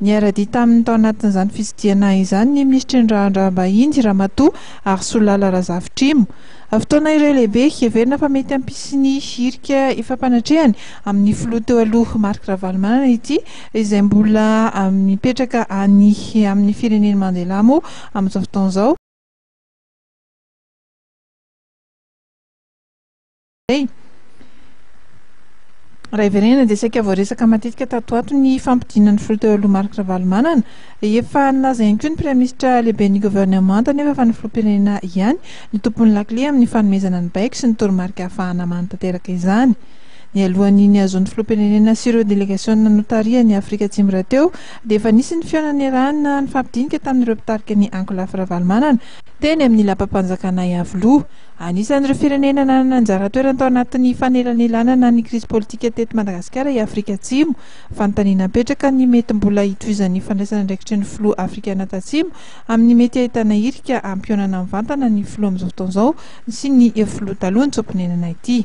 Niara-dia taminy tao anatin'izany fitsidihana izany ny minisitry ny raharaham-bahiny, Ramatoa Harisolala Razafitrimo. Fotoana iray lehibe heverina fa mety hampisy ny hirika fampanatrehany amin'ny filoha teo aloha Marc Ravalomanana ity izay mbola mipetraka any amin'ny firenen'i Mandela moa amin'izao fotoana izao. Raha hiverenana dia saika voaresaka matetika tato ho ato ny fampodiana ny filoha teo aloha Marc Ravalomanana. Efa nilaza ihany koa ny Praiminisitra lehiben'ny governemanta anefa fa ny filoham-pirenena ihany no tompon'ny lakile amin'ny fanomezana ny baiko sy ny toromarika hahafahana manatanteraka izany. Nialohan'ny nihazoan'ny filoham-pirenena sy ireo delegasiona notarihany Afrika Atsimo rahateo dia efa nisy ny fihaonana niarahana nifampidinika tamin'ireo mpitarika ny Ankolafy Ravalomanana teny amin'ny lapam-panjakana Iavoloha. Anisan'ireo firenena nanana anjara toerana tao anatin'ny fanelanelanana ny krizy politika teto Madagasikara i Afrika Atsimo. Fanontaniana mipetraka ny mety mbola hitovizan'ny fandraisana andraikitry ny filoha afrikana tatsimo amin'ny mety hahitana hirika hampihaonana mivantana ny filoha amin'izao fotoana izao sy ny filoha taloha ny tso-ponenana ity.